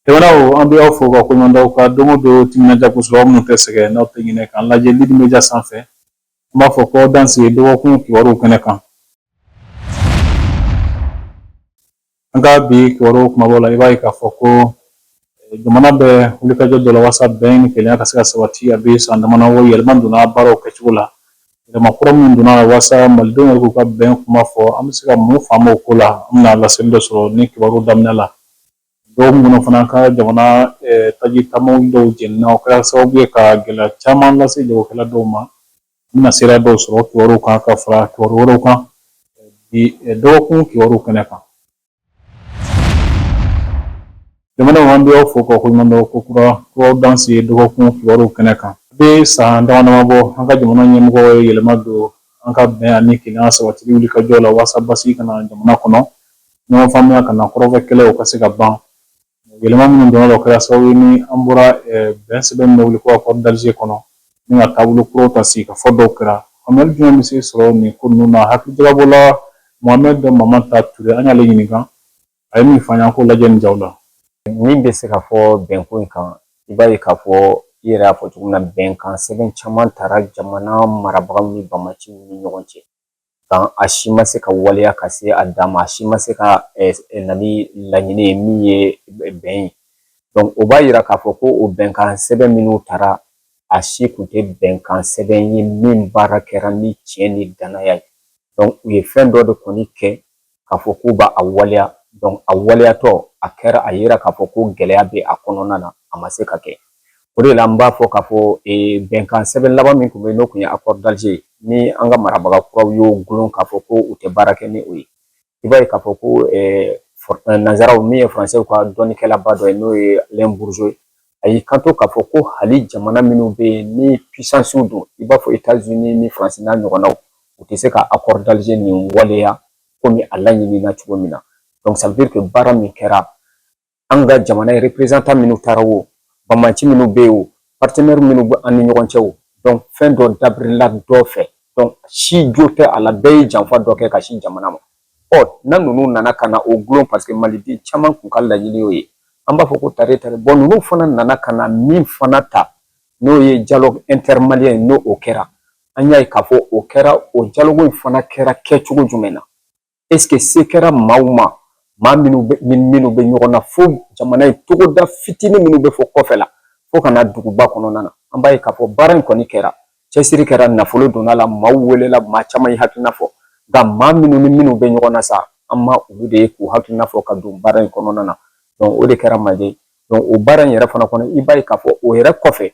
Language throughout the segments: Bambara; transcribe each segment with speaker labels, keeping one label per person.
Speaker 1: Jamanaw an bɛ aw fo ka koɲuman dɔn aw ka don o don timinandiya kosɛbɛ aw minnu tɛ sɛgɛn n'aw tɛ ɲinɛ k'an lajɛ Lidi Media sanfɛ an b'a fɔ ko aw danse dɔgɔkun kibaruw kɛnɛ kan An ka bi kibaruw kumabaw la i b'a ye k'a fɔ ko eh, jamana bɛ wulikajɔ dɔ la walasa bɛn ni kelenya ka se ka sabati a bɛ san damadɔw yɛlɛma donna baaraw kɛcogo la yɛlɛma kura minnu donna la walasa malidenw yɛrɛ k'u ka bɛn kuma fɔ an bɛ se ka mun faamu o ko la an bɛna laseli dɔ sɔrɔ ni kibaru daminɛ la dɔgɔkun kɔnɔ fana an ka jamana eh, taji taamaw dɔw jenina o kɛra sababu ye ka gɛlɛya caman lase jagokɛla dɔw ma An bɛna seereya dɔw sɔrɔ kibaruw kan ka fara kibaru wɛrɛw kan bi dɔgɔkun kibaruw kɛnɛ kan jamanaw an bɛ aw fo ka koɲuman dɔn ko kura aw danse dɔgɔkun kibaruw kɛnɛ kan a bɛ san damadama bɔ an ka jamana ɲɛmɔgɔw ye yɛlɛma don an ka bɛn ani kelenya sabatili wulikajɔ la walasa basigi ka na jamana kɔnɔ ɲɔgɔn faamuya ka na kɔrɔn fɛ kɛlɛw ka se ka ban Yɛlɛma minnu donna o kɛra sababu ye ni an bɔra bɛn sɛbɛn min bɛ wele ko accord d'Alger kɔnɔ ni ka taabolo kuraw ta sigikafɔ dɔw kɛra faamuyali jumɛn bɛ se sɔrɔ nin ko ninnu na hakilijagabɔla Mohamed Mamata Ture an y'ale ɲininka a ye min fɔ an ye an k'o lajɛ nin jaw la min bɛ
Speaker 2: se ka fɔ bɛnko in kan i b'a ye k'a fɔ i yɛrɛ y'a fɔ cogo min na bɛnkan sɛbɛn caman tara jamana marabagaw ni bamaciw ni ɲɔgɔn cɛ nka a si ma se ka waleya ka se a dan ma a si ma se ka na ni laɲini ye min ye bɛn ye donc o b'a yira k'a fɔ ko o bɛnkan sɛbɛn minnu tara a si kun tɛ bɛnkan sɛbɛn ye min baara kɛra ni tiɲɛ ni dannaya ye donc u ye fɛn dɔ de kɔni kɛ k'a fɔ k'u b'a waleya donc a waleyatɔ a kɛra a yera k'a fɔ ko gɛlɛya bɛ a kɔnɔna na a ma se ka kɛ o de la n b'a fɔ k'a fɔ bɛnkan sɛbɛn laban min tun bɛ yen n'o tun ye accord d'Alger ye ni an ka marabaga kuraw y'o gulon k'a fɔ ko u tɛ baara kɛ ni o ye i b'a ye k'a fɔ ko nanzara min ye faransɛw ka dɔnnikɛlaba dɔ ye n'o ye Alain Bourgeot ye a y'i kanto k'a fɔ ko hali jamana minnu bɛ yen ni pisansiw don i b'a fɔ etazini ni faransi n'a ɲɔgɔnnaw u tɛ se ka accord d'Alger nin waleya komi a laɲinina cogo min na donc ça veut dire que baara min kɛra an ka jamana ye représentant minnu taara o bamaci minnu bɛ yen o partenaire minnu bɛ an ni ɲɔgɔn cɛ o donc fɛn dɔ dabirila dɔ fɛ donc si jo tɛ a la bɛɛ ye janfa dɔ kɛ ka sin jamana ma ɔ na ninnu nana ka na o gulon paseke maliden caman kun ka laɲini y'o ye an b'a fɔ ko tare tare bɔn ninnu fana nana ka na min fana ta n'o ye dialogue intermalien ye n'o o kɛra an y'a ye k'a fɔ o kɛra o dialogue in fana kɛra kɛcogo jumɛn na est ce que se kɛra maaw ma maa minnu bɛ ni minnu bɛ ɲɔgɔn na fo jamana in togoda fitinin minnu bɛ fo kɔfɛla fo ka na duguba kɔnɔna na an b'a ye k'a fɔ baara in kɔni kɛra cɛsiri kɛra nafolo donna a la maaw welela maa caman ye hakilina fɔ nka maa minnu ni minnu bɛ ɲɔgɔn na sa an ma olu de ye k'u hakilina fɔ ka don baara in kɔnɔna na o de kɛra manque ye o baara in yɛrɛ fana kɔnɔ i b'a ye k'a fɔ o yɛrɛ kɔfɛ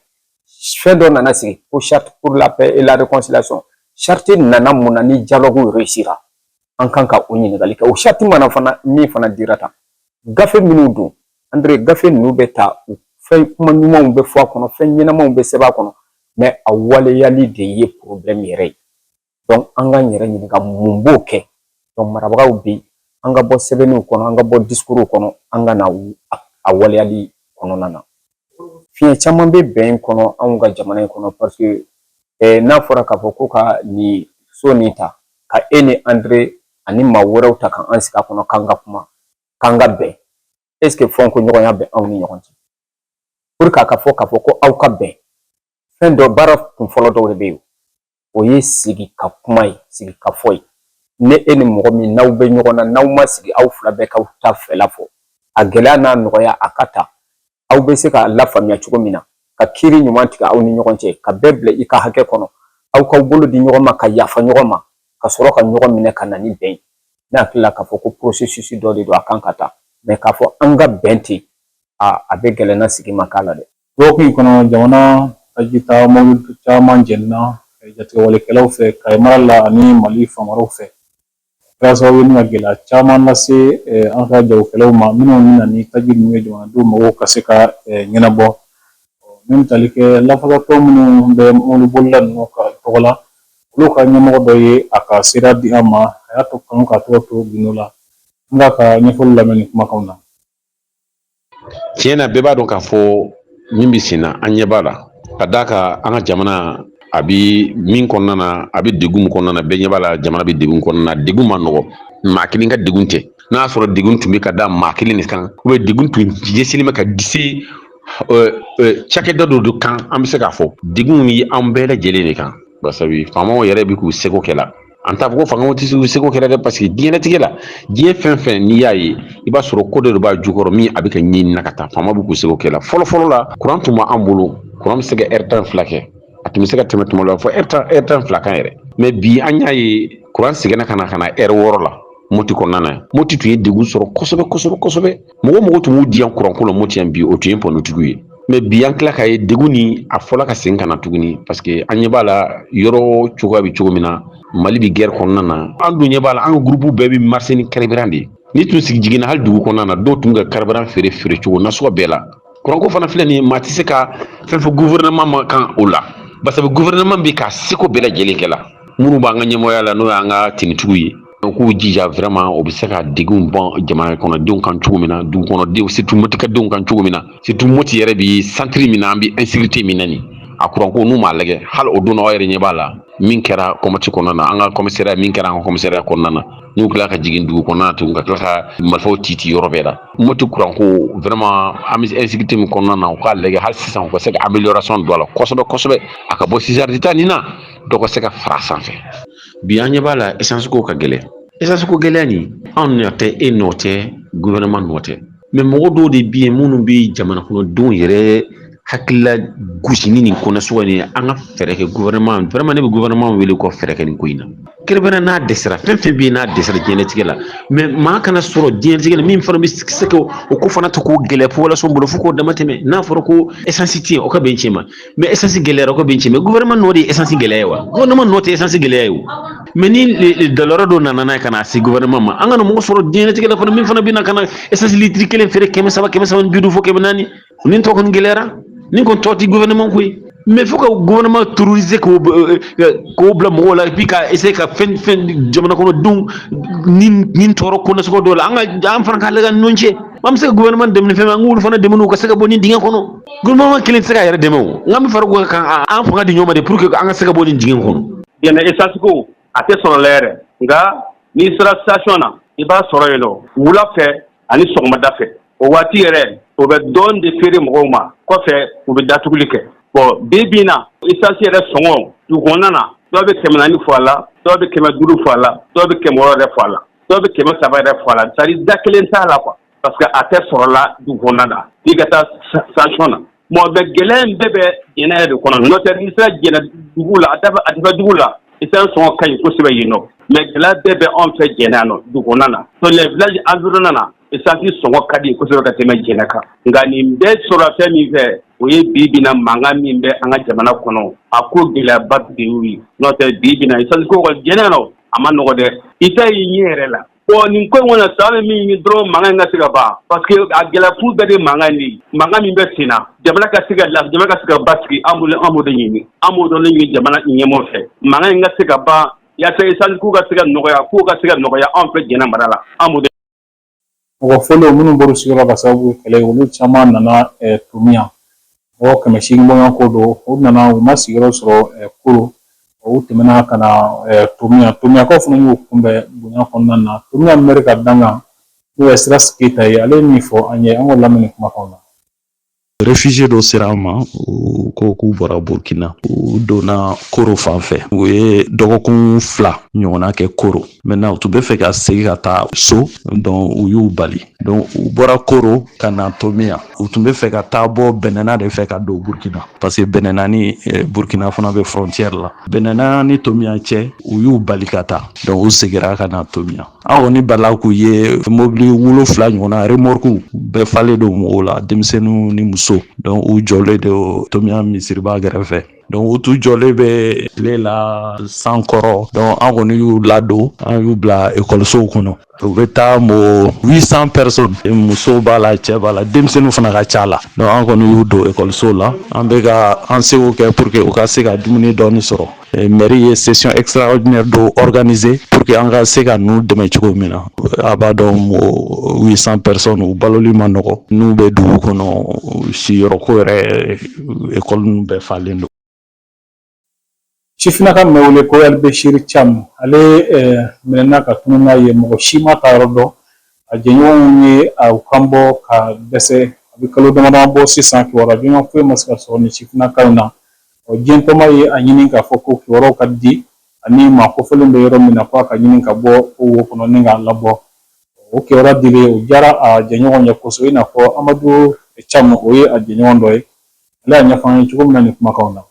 Speaker 2: fɛn dɔ nana sigi ko charte pour la paix et la réconciliation charte nana mun na ni dialogue réussira an kan ka o ɲininkali kɛ o charte mana fana min fana dira tan gafe minnu don andre gafe ninnu bɛ ta u fɛn kuma ɲumanw bɛ fɔ a kɔnɔ fɛn ɲɛnamaw bɛ sɛbɛn a kɔnɔ mɛ a waleyali de ye porobilɛmu yɛrɛ ye dɔnku an k'an yɛrɛ ɲininka mun b'o kɛ dɔnku marabagaw bɛ yen an ka bɔ sɛbɛnniw kɔnɔ an ka bɔ diskuruw kɔnɔ an ka na a waleyali kɔnɔna na fiɲɛ caman bɛ bɛn in kɔnɔ anw ka jamana in kɔnɔ paseke n'a fɔra k'a fɔ ko ka nin so nin ta ka e ni andre ani maa wɛrɛw ta k'an sigi a kɔnɔ k'an ka kuma k'an ka bɛn ɛseke fɔkɔɲɔgɔnya bɛ anw ni ɲɔgɔn cɛ pour que a ka fɔ k'a fɔ ko aw ka bɛn fɛn dɔ baara kunfɔlɔ dɔw de bɛ yen o ye sigi ka kuma ye sigi ka fɔ ye ni e ni mɔgɔ min n'aw bɛ ɲɔgɔn na n'aw ma sigi aw fila bɛɛ k'aw ta fɛla fɔ a gɛlɛya n'a nɔgɔya a ka ta aw bɛ se k'a lafaamuya cogo min na ka kiiri ɲuman tigɛ aw ni ɲɔgɔn cɛ ka bɛɛ bila i ka hakɛ kɔnɔ aw k'aw bolo di ɲɔgɔn ma ka yafa ɲɔgɔn ma ka sɔrɔ ka ɲɔgɔn minɛ ka na ni bɛn ye ne hakili la k'a fɔ ko porosesisi dɔ de don a kan ka ta mɛ k'a fɔ an ka bɛn ten a bɛ gɛlɛn ni sigi ma k'a la dɛ Dɔgɔkun in kɔnɔ
Speaker 1: jamana tajita mɔbili caman jenina jatigɛwalekɛlaw fɛ Kayi mara la ani Mali fan wɛrɛw fɛ. O kɛra sababu ye ka gɛlɛya caman lase an ka jagokɛlaw ma minnu bɛ na ni taji ninnu ye jamanadenw mago ka se ka ɲɛnabɔ. Min bɛ tali kɛ lafasalitɔn minnu bɛ mɔbilibolila ninnu ka tɔgɔ la, olu ka ɲɛmɔgɔ dɔ ye a ka seereya di an ma, a y'a to kanu k'a tɔgɔ to gundo la. An b'a ka ɲɛfɔli lamɛn nin kumakanw na.
Speaker 3: tiɲɛ na bɛɛ b'a dɔn k'a fɔ min bɛ sen na an ɲɛ b'a la ka d'a kan an ka jamana a bɛ min kɔnɔna na a bɛ degun kɔnɔna na bɛɛ ɲɛ b'a la jamana bɛ degun kɔnɔna na degun ma nɔgɔ maa kelen ka degun tɛ n'a y'a sɔrɔ degun tun bɛ ka da maa kelen de kan ou bien degun tun ɲɛsinnen bɛ ka disi cakɛda dɔ de kan an bɛ se k'a fɔ degun ye an bɛɛ lajɛlen de kan basabu faamaw yɛrɛ bɛ k'u seko kɛ a la an t'a fɔ ko faamaw tɛ u seko kɛ la dɛ parce que diɲɛlatigɛ la diɲɛ fɛn fɛn n'i y'a ye i b'a sɔrɔ ko dɔ de b'a jukɔrɔ min a bɛ ka ɲinin na ka taa faamaw bɛ k'u seko kɛ la fɔlɔfɔlɔ la kuran tun b' an bolo kuran bɛ se ka heure tan ni fila kɛ a tun bɛ se ka tɛmɛ tuma dɔ la fo heure tan heure tan ni fila kan yɛrɛ mais bi an y'a ye kuran seginna ka na ka na heure wɔɔrɔ la moti kɔnɔna na moti tun ye degun sɔrɔ kosɛbɛ kosɛbɛ kosɛbɛ mɔgɔ o mɔgɔ tun b'u diya kuranko la moti yan bi o tun ye panotigiw ye mais bi an tila ka ye degun nin a fɔra ka segin ka na tuguni pa parce que an ɲɛ b'a la yɔrɔ cogoya bɛ cogo min na mali bɛ guerre kɔnɔna na an dun ɲɛ b'a la an groupe bɛɛ bɛ marcher ni carburant de ye ni tun sigi jiginna hali dugu kɔnɔna na dɔw tun bɛ ka carburant feere feere cogo nasugu bɛɛ la kuranko fana filɛ nin maa tɛ se ka fɛn fɔ gouvernement ma kan o la basa gouvernement bɛ k'a seko bɛɛ lajɛlen kɛ la minnu b'an ka ɲɛmɔgɔya la n'o y'an ka tenitigiw ye U k'u jija vraiment u bɛ se ka degun bɔ jamana kɔnɔdenw kan cogo min na dugu kɔnɔdenw surtout motikɛdenw kan cogo min na surtout moti yɛrɛ bɛ centre min an bɛ insécurité min na nin a kuranko n'u m'a lajɛ hali o don aw yɛrɛ ɲɛ b'a la min kɛra kɔmmati kɔnɔna na an ka commissariat min kɛra an commissariat kɔnɔna na n'u tila ka jigin dugu kɔnɔ tuguni ka tila ka marifaw ci ci yɔrɔ bɛɛ la moti kuranko vraiment an bɛ insécurité min kɔnɔna na u k'a lajɛ hali sisan u ka se ka amélioration don a la kosɛbɛ a ka bɔ six heures de temps nin na dɔ ka se ka fara sanfɛ bi an ɲɛ b'a la essence ko ka gɛlɛn essence ko gɛlɛya nin anw nɔ tɛ e nɔ tɛ gouvernement nɔ tɛ mais mɔgɔ dɔw de bɛ yen minnu bɛ jamanakɔnɔdenw yɛrɛ hakilila gosi ni nin ko nasugu nin an ka fɛɛrɛ kɛ gouvernement vraiment ne bɛ gouvernement wele k'u fɛɛrɛ kɛ nin ko in na kɛrɛnkɛrɛnnenya n'a dɛsɛra fɛn fɛn bɛ yen n'a dɛsɛra diɲɛlatigɛ la mais maa kana sɔrɔ diɲɛlatigɛ la min fana bɛ se ka o ko fana ta k'o gɛlɛya population bolo fo k'o dama tɛmɛ n'a fɔra ko essence tɛ yen o ka bɛn cɛ ma mais esansi gɛlɛyara o ka bɛn cɛ mais gouvernement nɔ de ye esansi gɛlɛya ye wa gouvernement nɔ tɛ esansi gɛlɛya ye o mais ni douleur dɔ nana n'a ye ka na se gouvernement ma an kana mɔgɔ sɔrɔ diɲɛlatigɛ la fana min fana bɛna ka na esansi litiri kelen feere kɛmɛ saba kɛmɛ saba ni bi duuru fo kɛmɛ naani nin tɔ kɔni gɛlɛyara nin kɔni tɔ tɛ gouvernement ko ye mais fo ka gouvernement terroriser k'o k'o bila mɔgɔw la et puis ka essayer ka fɛn fɛn jamana kɔnɔdenw ni ni tɔɔrɔ ko nasugu dɔw la an ka an fana k'a lajɛ ɲɔgɔn cɛ an bɛ se ka gouvernement dɛmɛ ni fɛn min ye an k'olu fana dɛmɛ u ka se ka bɔ nin dingɛ kɔnɔ gouvernement kelen tɛ se k'a yɛrɛ dɛmɛ o n k'an bɛɛ fara o kan a- an fanga di ɲɔgɔn ma de pour que an ka se ka bɔ nin dingɛ kɔnɔ jɛnɛ esansi
Speaker 4: ko a tɛ sɔrɔ la yɛrɛ nka n'i sera station na i b'a sɔrɔ yen nɔ wula fɛ ani sɔgɔmada fɛ o waati yɛrɛ o bɛ dɔɔni de feere mɔgɔw ma kɔfɛ u bɛ datuguli kɛ bon bi bi in na esansi yɛrɛ sɔngɔ dugu kɔnɔna na dɔw bɛ kɛmɛ naani fɔ a la dɔw bɛ kɛmɛ duuru fɔ a la dɔw bɛ kɛmɛ wɔɔrɔ yɛrɛ fɔ a la dɔw bɛ kɛmɛ saba yɛrɛ fɔ a la c'est-à-dire da kelen t'a la quoi parce que a tɛ sɔrɔla dugu kɔnɔna na f'i ka taa station na bon mais gɛlɛya in bɛɛ bɛ jɛnɛ yɛrɛ de kɔnɔ n'o tɛ n'i sera jɛnɛ dugu la a kɛrɛfɛ dugu la esansi sɔngɔ ka ɲi kosɛbɛ yen nɔ mais gɛlɛya bɛɛ bɛ anw fɛ jɛnɛ yan nɔ dugu kɔnɔna na so les villages environnants na esansi sɔngɔ ka di kosɛbɛ ka tɛmɛ jɛnɛ kan nka nin bɛɛ sɔrɔla fɛn min fɛ o ye bi bi na mankan min bɛ an ka jamana kɔnɔ a ko gɛlɛyaba de y'o ye n'o tɛ bi bi na esansi ko kɔni jɛnɛ yan nɔ a ma nɔgɔ dɛ i t'a y'i ɲɛ yɛrɛ la Bon nin ko in kɔni na sa an bɛ min ɲini dɔrɔn mankan in ka se ka ban parce que a gɛlɛya kun bɛɛ de ye mankan in de ye mankan min bɛ sen na jamana ka se ka lafiya jamana ka se ka basigi an bolo an b'o de ɲini an b'o dɔrɔn de ɲini jamana ɲɛmaaw fɛ mankan in ka se ka ban yaasa essence ko ka se ka nɔgɔya kow ka se ka nɔgɔya anw fɛ Jɛnɛ mara la an b'o de mɔgɔ
Speaker 1: fɔlɔ minnu bɔr'u sigiyɔrɔ la ka sababu kɛ kɛlɛ ye olu caman nana eh, tomiya mɔgɔ kɛmɛ seegin bɔɲɔgɔn ko don u nana u ma sigiyɔrɔ sɔrɔ koro u tɛmɛna ka na tomiya tomiyakaw fana y'u kunbɛn bonya kɔnɔna na tomiya mɛri ka dankan n'o ye sira keyita ye ale ye min fɔ an ye an k'o lamɛn nin kumakan na réfugié
Speaker 5: dɔ sera an ma u ko k'u bɔra burkina u donna koro fan fɛ u ye dɔgɔkun fila ɲɔgɔnna kɛ koro maintenant u tun bɛ fɛ ka segi ka taa so donc u y'u bali donc u bɔra koro ka na tomiya u tun bɛ fɛ ka taa bɔ bɛnɛna de fɛ ka don burukina parce que bɛnɛna ni eh, burukina fana bɛ frontière la bɛnɛna ni tomiya cɛ u y'u bali ka taa donc u segira ka na tomiya an kɔni bala k'u ye mobili wolonfila ɲɔgɔnna remorque bɛɛ falen don mɔgɔw la denmisɛnninw ni muso donc u jɔlen de tomiya misiriba gɛrɛfɛ Donc u tun jɔlen bɛ tile la san kɔrɔ donc an kɔni y'u ladon an y'u bila ekɔlisow kɔnɔ u bɛ taa mɔgɔ huit cents personnes musow b'a la cɛ b'a la denmisɛnnin fana ka c'a la donc an kɔni y'u don ekɔlisow la an bɛ ka an seko kɛ pour que u ka se ka dumuni dɔɔni sɔrɔ mairie ye session extraordinaire dɔ organiser pour que an ka se ka ninnu dɛmɛ cogo min na a b'a dɔn mɔgɔ huit cents personnes u baloli ma nɔgɔ n'u bɛ dugu kɔnɔ siyɔrɔko yɛrɛ ekɔli ninnu bɛɛ falen don
Speaker 1: sifinnaka min bɛ wele ko alibesiri camu ale minɛna ka tunun n'a ye mɔgɔ si m'a taayɔrɔ dɔn a jɛɲɔgɔnw ye a kan bɔ ka dɛsɛ a bɛ kalo damadama bɔ sisan kibaruya ɲuman foyi ma se ka sɔrɔ nin sifinnaka in na ɔ diɲɛtɔnba ye a ɲini k'a fɔ ko kibaruyaw ka di ani maa kofɔlen bɛ yɔrɔ min na ko a ka ɲini ka bɔ o wo kɔnɔ ni k'a labɔ o kibaruya dilen o diyara a jɛɲɔgɔn ye kosɛbɛ i n'a fɔ amadu camu o ye a jɛɲɔgɔn dɔ ye ale y'a ɲɛfɔ an ye cogo min na nin kumakanw na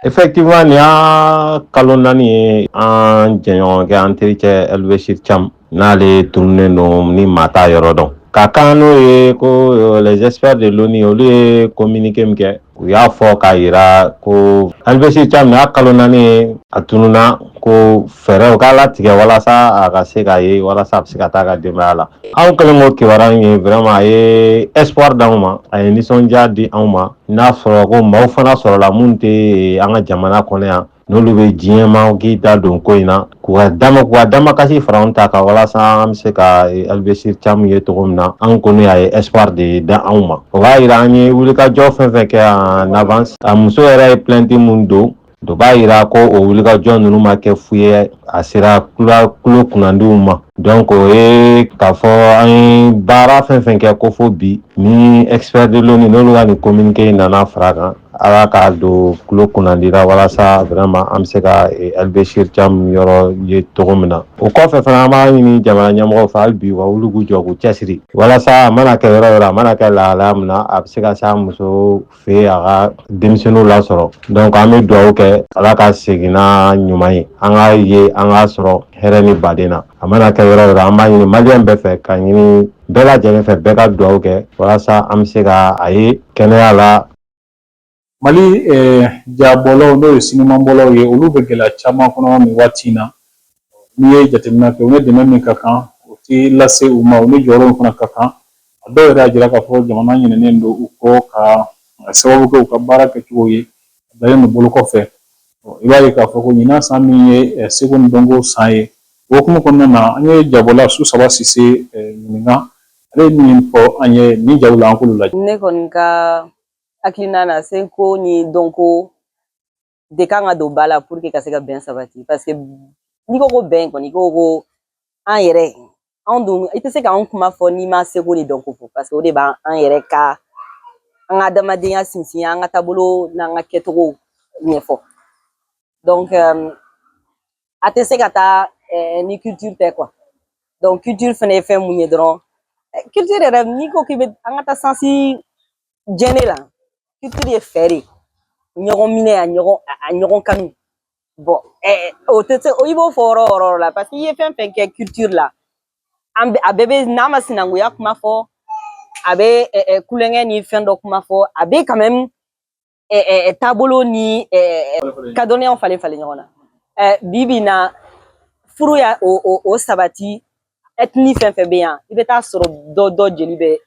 Speaker 1: Effectivement,
Speaker 6: nin y'a kalo naani ye an jɛɲɔgɔnkɛ an terikɛ Elbeshir Cham n'ale tununnen don ni maa t'a yɔrɔ dɔn ka kan n'o ye ko euh, les experts de l'ONU olu ye communiqué min kɛ u y'a fɔ k'a yira ko Alibesiri Cam nin y'a kalo naani ye a tununna ko fɛɛrɛw ka latigɛ walasa a ka se ka ye walasa a bɛ se ka taa a ka denbaya la anw kɛlen k'o kibaruya in ye vraiment a ye espoir d'anw ma a ye nisɔndiya di anw ma n'a sɔrɔ ko maaw fana sɔrɔla minnu tɛ an ka jamana kɔnɔ yan n'olu bɛ diɲɛma k'i da don ko in na k'u ka dama k'u ka damakasi fara anw ta kan walasa an bɛ se ka eh, Alibesiri Cam ye cogo min na an kɔni y'a ye espoir de d'anw ma o b'a yira an ye wulikajɔ fɛn fɛn kɛ en avance a muso yɛrɛ ye plainte min don o b'a yira ko o wulikajɔ ninnu ma kɛ fu ye a sera kula- tulo kunnandiw ma donc o ye k'a fɔ an ye baara fɛn fɛn kɛ ko fo bi ni expert de l'ONU n'olu ka nin communiqué in nana fara a kan Ala k'a don tulo kunnandi la walasa vraiment an bɛ se ka Alibesiri Cam yɔrɔ ye cogo min na o kɔfɛ fana an b'a ɲini jamana ɲɛmɔgɔw fɛ hali bi u ka wuli k'u jɔ k'u cɛsiri walasa a mana kɛ yɔrɔ yɔrɔ a mana kɛ lahalaya min na a bɛ se ka se a muso fɛ a ka denmisɛnninw lasɔrɔ donc an bɛ dugawu kɛ ala ka segin n'a ɲuman ye an k'a ye an k'a sɔrɔ hɛrɛ ni baden na a mana kɛ yɔrɔ yɔrɔ an b'a ɲini maliyɛn bɛɛ fɛ ka ɲini bɛɛ lajɛlen fɛ bɛɛ ka dugawu kɛ walasa an bɛ se ka a ye kɛnɛya la mali
Speaker 1: eh, jabɔlaw n'o ye sinimabɔlaw ye olu bɛ gɛlɛya caman kɔnɔ nin waati in na n'i ye jateminɛ kɛ u ni dɛmɛ min ka kan o tɛ lase u ma u ni jɔyɔrɔ fana ka kan a dɔw yɛrɛ y'a jira k'a fɔ jamana ɲinɛnen don u kɔ ka sababu kɛ u ka baara kɛcogo ye bilalen don bolo kɔfɛ i b'a ye k'a fɔ ko ɲinan san min ye seko ni dɔnko san ye o hukumu kɔnɔna na an ye jabɔla Susaba Sise ɲininka ale ye min fɔ an ye nin jaw la an k'olu lajɛ ne kɔni
Speaker 7: ka hakilina na seko ni dɔnko de kan ka don ba la pour que ka se ka bɛn sabati paseke n'i ko ko bɛn kɔni i ko ko an yɛrɛ anw dun i tɛ se k'an kuma fɔ n'i ma seko ni dɔnko fɔ paseke o de b'an an yɛrɛ ka an ka adamadenya sinsin an ka taabolo n'an ka kɛcogow ɲɛfɔ donc a tɛ se ka taa euh, ni culture tɛ quoi donc culture fana ye fɛn mun ye dɔrɔn eh, culture yɛrɛ n'i ko k'i bɛ an k'a ta sens général culture ye fɛn de ɲɔgɔn minɛ a ɲɔgɔn a ɲɔgɔn kanu bon o tɛ se i b'o fɔ yɔrɔ yɔrɔ la parce que i ye fɛn fɛn kɛ culture la an a bɛɛ bɛ n'a ma sinankunya kuma fɔ a bɛ kulonkɛ ni fɛn dɔ kuma fɔ a bɛ quand même taabolo ni ka dɔnniyaw falen falen ɲɔgɔn na bi bi in na furu y'o sabati ethnie fɛn fɛn bɛ yan i bɛ t'a sɔrɔ dɔ dɔ jeli bɛ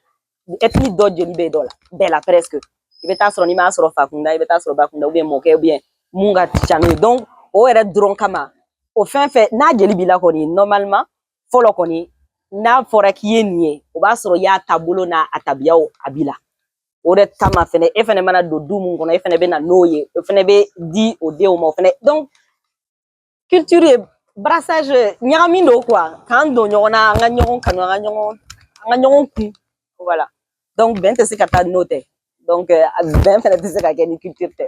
Speaker 7: nin ethnie dɔ jeli bɛ dɔ la bɛɛ la presque i bɛ taa sɔrɔ n'i m'a sɔrɔ fakunda i bɛ taa sɔrɔ bakunda ou bien mɔkɛ ou bien mun ka ca n'o ye donc o yɛrɛ dɔrɔn kama o fɛn fɛn n'a jeli b'i la kɔni normalement fɔlɔ kɔni n'a fɔra k'i ye nin ye o b'a sɔrɔ i y'a taabolo n'a a tabiyaw a b'i la o de kama fɛnɛ e fɛnɛ mana don du mun kɔnɔ e fɛnɛ bɛ na n'o ye o fɛnɛ bɛ di o denw ma o fɛnɛ donc culture ye brassage ɲagami don quoi k'an don ɲɔgɔn na an ka ɲɔgɔn kanu an ka ɲɔgɔn an ka ɲɔgɔn kun voilà donc bɛn tɛ se ka taa n'o tɛ donc bɛn fɛnɛ tɛ se ka kɛ ni culture tɛ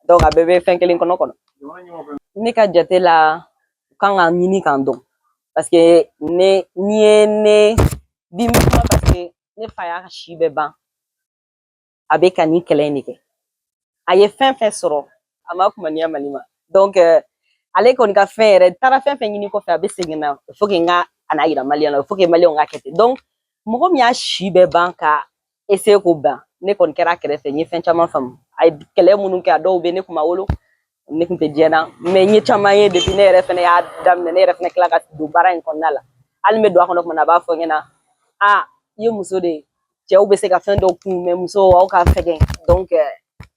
Speaker 7: donc a bɛɛ bɛ fɛn kelen kɔnɔ kɔnɔ ne ka jate la u kan ka ɲini k'an dɔn parce que ne n'i ye ne bi min kuma parce que ne fa y'a si bɛɛ ban a bɛ ka nin kɛlɛ in de kɛ a ye fɛn fɛn sɔrɔ a ma kumaniya mali ma donc euh, ale kɔni ka fɛn yɛrɛ taara fɛn fɛn ɲini kɔfɛ a bɛ segin na il faut que n ka a n'a yira maliyɛn na il faut que maliyɛnw ka kɛ ten donc mɔgɔ min y'a si bɛɛ ban ka essayer k'o ban ne kɔni kɛra a kɛrɛfɛ n ye fɛn caman faamu a ye kɛlɛ minnu kɛ a dɔw bɛ ne kun ma wolo ne kun tɛ diɲɛ na mais n ye caman ye depuis ne yɛrɛ fɛnɛ y'a daminɛ ne yɛrɛ fɛnɛ kila ka don baara in kɔnɔna la hali n bɛ don a kɔnɔ kuma na a b'a fɔ n ɲɛna a i ye muso de ye cɛw bɛ se ka fɛn dɔw kun mais muso aw ka fɛgɛn donc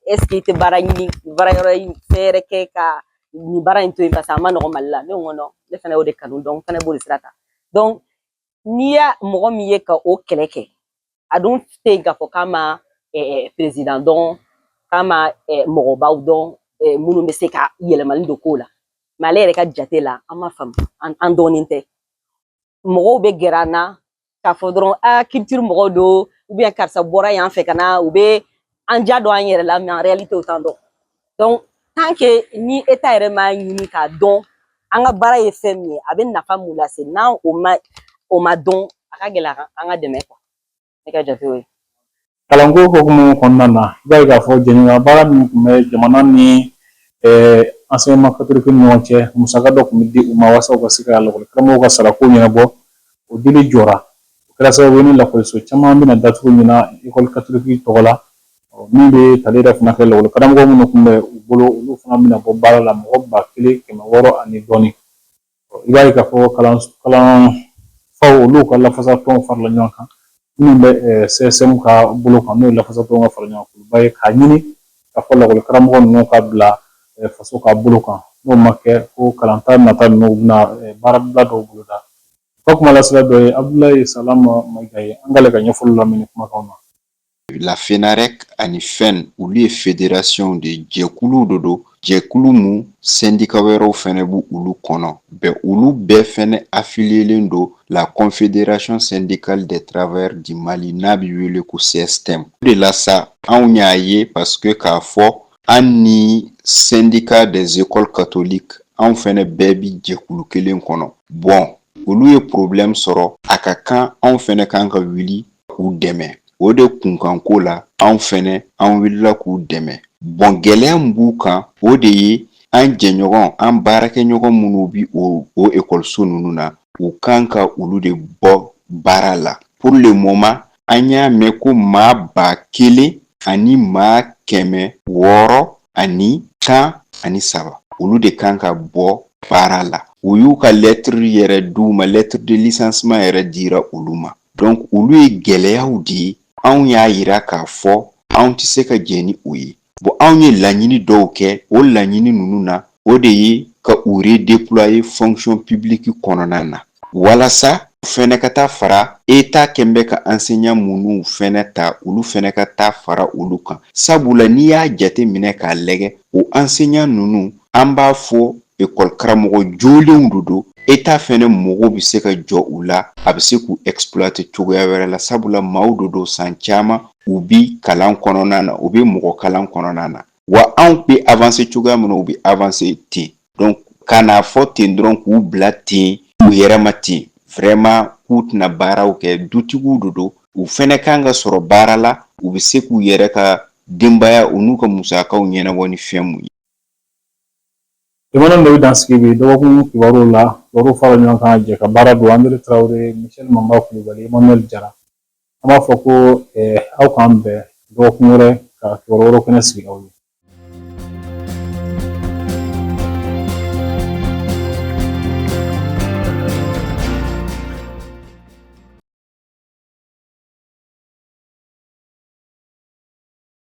Speaker 7: est-ce que i tɛ baara ɲini baara yɔrɔ in fɛn wɛrɛ kɛ ka nin baara in to yen parce que a ma nɔgɔn mali la ne ko ne fɛnɛ y'o de kanu donc n fɛnɛ b'o de sira ta n'i y'a mɔgɔ min ye ka o kɛlɛ kɛ a dun tɛ yen k'a fɔ k'a ma perezidan dɔn k'a ma mɔgɔbaw dɔn minnu bɛ se ka yɛlɛmali don kow la mais ale yɛrɛ ka jate la an ma faamu an dɔnnen tɛ mɔgɔw bɛ gɛrɛ an na k'a fɔ dɔrɔn a culture mɔgɔw don ou bien karisa bɔra yan fɛ ka na u bɛ an ja don an yɛrɛ la mais en réalité u t'an dɔn donc tant que ni État yɛrɛ m'a ɲini k'a dɔn an ka baara ye fɛn min ye a bɛ nafa mun lase n'an o ma dɔn a ka gɛlɛn an ka dɛmɛ quoi ne ka jate o ye
Speaker 1: kalanko hokumu kɔnɔna na i b'a ye k'a fɔ jɛɲɔgɔnya baara min tun bɛ jamana ni enseignement catholique ni ɲɔgɔn cɛ musaka dɔ tun bɛ di u ma walasa u ka se ka lakɔli karamɔgɔw ka sarako ɲɛnabɔ o dili jɔra O kɛra sababu ye ni lakɔliso caman bɛna datugu ɲinan école catholique tɔgɔ la min bɛ tali yɛrɛ fana kɛ lakɔli karamɔgɔ minnu tun bɛ u bolo olu fana bɛna bɔ baara la mɔgɔ ba kelen kɛmɛ wɔɔrɔ ani dɔɔni i b'a ye k'a fɔ kalanfaw olu ka lafasatɔnw farala ɲɔgɔn kan minnu bɛ CSM ka bolo kan n'o ye lafasatɔnw ka fara ɲɔgɔn kan ba ye k'a ɲini k'a fɔ lakɔli karamɔgɔ ninnu ka bila faso ka bolo kan n'o ma kɛ ko kalanta nata ninnu bɛna baarabila dɔw boloda U ka kumalasela dɔ ye Abudulayi Salama Mayiga ye an k'ale ka ɲɛfɔli lamɛn nin kumakan na.
Speaker 8: La FENAREC ani FEN olu ye federasiyɔnw de ye jɛkuluw de don jɛkulu mun sɛndika wɛrɛw fɛnɛ b'olu kɔnɔ bɔn olu bɛɛ fɛnɛ afiliyelen don la confédération syndicale des travailleurs du mali n'a bi wele ko CSTM o de la sa anw y'a ye parce que k'a fɔ an ni sɛndika des écoles catholiques anw fɛnɛ bɛɛ bi jɛkulu kelen kɔnɔ bɔn olu ye porobilɛmu sɔrɔ a ka kan anw fɛnɛ kan ka wuli k'u dɛmɛ o de kunkanko la anw fɛnɛ an wulila k'u dɛmɛ bɔn gɛlɛya min b'u kan o de ye an jɛɲɔgɔn an baarakɛɲɔgɔn minnu bi o o ekɔliso ninnu na u kan ka olu de bɔ baara la pour le moment an y'a mɛn ko maa ba kelen ani maa kɛmɛ wɔɔrɔ ani tan ani saba olu de kan ka bɔ baara la u y'u ka lɛtiri yɛrɛ di u ma lɛtiri de licenciement yɛrɛ dira olu ma donc olu ye gɛlɛyaw de ye anw y'a yira k'a fɔ anw tɛ se ka jɛn ni o ye bon anw ye laɲini dɔw kɛ o laɲini ninnu na o de ye ka u redéployer fonction publique kɔnɔna na walasa u fɛnɛ ka taa fara eta kɛ bɛ ka enseignants minnu fɛnɛ ta olu fɛnɛ ka taa fara olu kan sabula n'i y'a jate minɛ k'a lajɛ o enseignants ninnu an b'a fɔ ekɔli karamɔgɔ jolenw de don eta fɛnɛ mago bɛ se ka jɔ u la a bɛ se k'u exploiter cogoya wɛrɛ la sabula maaw de don san caman u bi kalan kɔnɔna na u bɛ mɔgɔ kalan kɔnɔna na wa anw bɛ avancer cogoya min na u bɛ avancer ten donc ka n'a fɔ ten dɔrɔn k'u bila ten u yɛrɛ ma ten vraiment k'u tɛna baaraw kɛ dutigiw de don u fɛnɛ kan ka sɔrɔ baara la u bɛ se k'u yɛrɛ ka denbaya u n'u ka musakaw ɲɛnabɔ ni fɛn mun ye Jama
Speaker 1: nin de bɛ dan sigi bi dɔgɔkun kibaruw la kibaruw fara ɲɔgɔn kan jɛkabaara don André Tarawele Michel Manba Kulubali Emmanuel Jara an b'a fɔ ko aw k'an bɛn dɔgɔkun wɛrɛ ka kibaru wɛrɛ kɛnɛ sigi aw ye